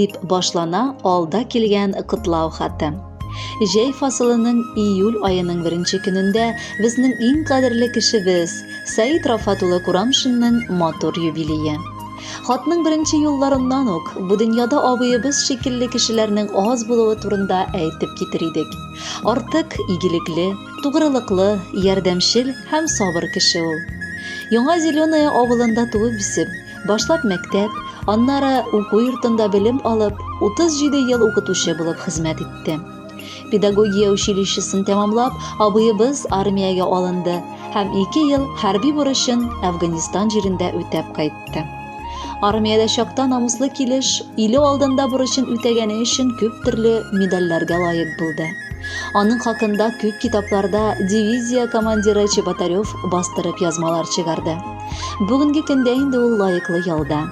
Дип башлана алда килгән котлау хаты. Җәй фасылының июль аеның беренче көнендә безнең иң кадерле кешебез Саид Рафат улы Курамшинның матур юбилее. Хатның беренче юлларыннан ук бу дөньяда абыебыз шикелле кешеләрнең аз булуы турында әйтеп китер идек. Артык игелекле, тугрылыклы, ярдәмчел һәм сабыр кеше ул. Яңа Зеленое авылында туып-үсеп, Башлап мәктәп, аннары уку йортында белем алып, 37 ел укытучы булып хезмәт итте. Педагогия училищесын тәмамлап, абыебыз армиягә алынды һәм 2 ел хәрби бурычын Әфганистан җирендә үтәп кайтты. Армиядә чакта намуслы килеш, иле алдында бурычын үтәгәне өчен күп төрле медальләргә лаек булды. Аның хакында күп китапларда дивизия командиры Чеботарев бастырып язмалар чыгарды. Бүгенге көндә инде ул лаеклы ялда.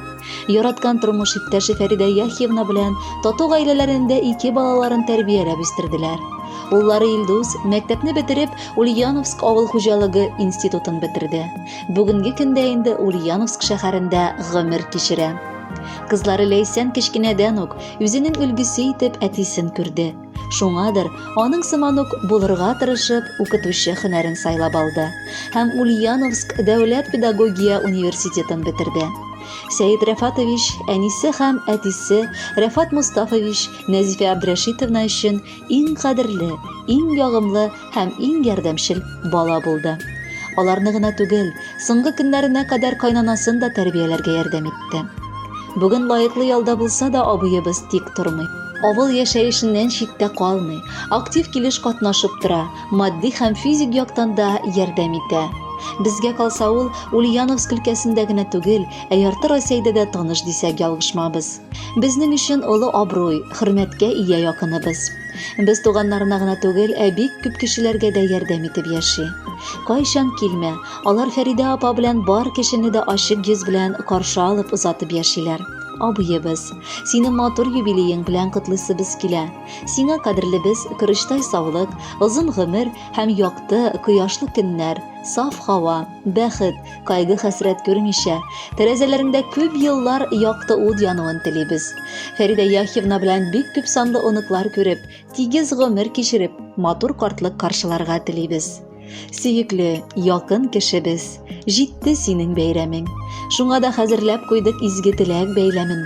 Яраткан тормыш иптәше Фәридә Яхьевна белән тату гаиләләрендә ике балаларын тәрбияләп үстерделәр. Уллары Илдус мәктәпне бетереп Ульяновск авыл хуҗалыгы институтын бетерде. Бүгенге көндә инде Ульяновск шәһәрендә гомер кичерә. Кызлары Ләйсән кечкенәдән үк үзенең өлгесе итеп әтисен күрде. Шуңадыр, аның сыман ук булырга тырышып, укытучы хөнәрен сайлап алды һәм Ульяновск дәүләт педагогия университетын бетерде. Сәет Рәфатович, әнисе һәм әтисе Рәфат Мустафович, Нәзифә Абдрәшитовна өчен иң кадерле, иң ягымлы һәм иң ярдәмчел бала булды. Аларны гына түгел, соңгы көннәренә кадәр кайнанасын да тәрбияләргә ярдәм итте. Бүген лаеклы ялда булса да абыебыз тик тормый. Авыл яшәешеннән читтә калмый, актив килеш катнашып тора, матди һәм физик яктан да ярдәм итә. Безгә калса ул Ульяновск өлкәсендә генә түгел, ә ярты Россиядә дә таныш дисәк ялгышмабыз. Безнең өчен олы абруй, хөрмәткә ия якыныбыз. Без туганнарына гына түгел, ә бик күп кешеләргә дә ярдәм итеп яши. Кайчан килмә, алар Фәридә апа белән бар кешене дә ачык йөз белән каршы алып озатып яшиләр. Абыебыз, сине матур юбилеең белән котлыйсыбыз килә. Сиңа кадерлебез көречтай саулык, озын гомер һәм якты, кояшлы көннәр, саф һава, бәхет, кайгы хәсрәт күрмичә, тәрәзәләрендә күп еллар якты ут януын телибез. Фәридә Яхьевна белән бик күп санлы оныклар күреп, тигез гомер кичереп, матур картлык каршыларга телибез. Сөекле, якын кешебез, җитте синең бәйрәмең. Шуңа да хәзерләп куйдык изге теләк бәйләмен.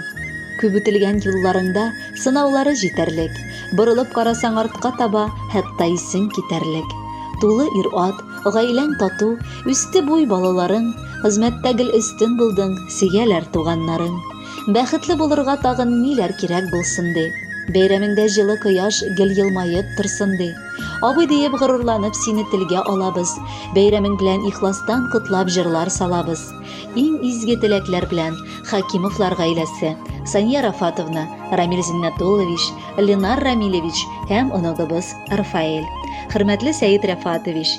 Күп үтелгән юлларыңда сынаулары җитәрлек, борылып карасаң артка таба, хәтта исең китәрлек. Тулы ир-ат, гаиләң тату, Үсте буй балаларың, хезмәттә гел өстен булдың, сөяләр туганнарың. Бәхетле булырга тагын ниләр кирәк булсын ди. Бәйрәмеңдә җылы кояш гел елмаеп торсын ди. Абый диеп горурланып сине телгә алабыз. Бәйрәмең белән ихластан котлап җырлар салабыз. Иң изге теләкләр белән Хакимовлар гаиләсе. Сания Рафатовна, Рамиль Зиннәтуллович, Ленар Рамилевич һәм оныгыбыз Рафаэль. Хөрмәтле Сәет Рәфатович,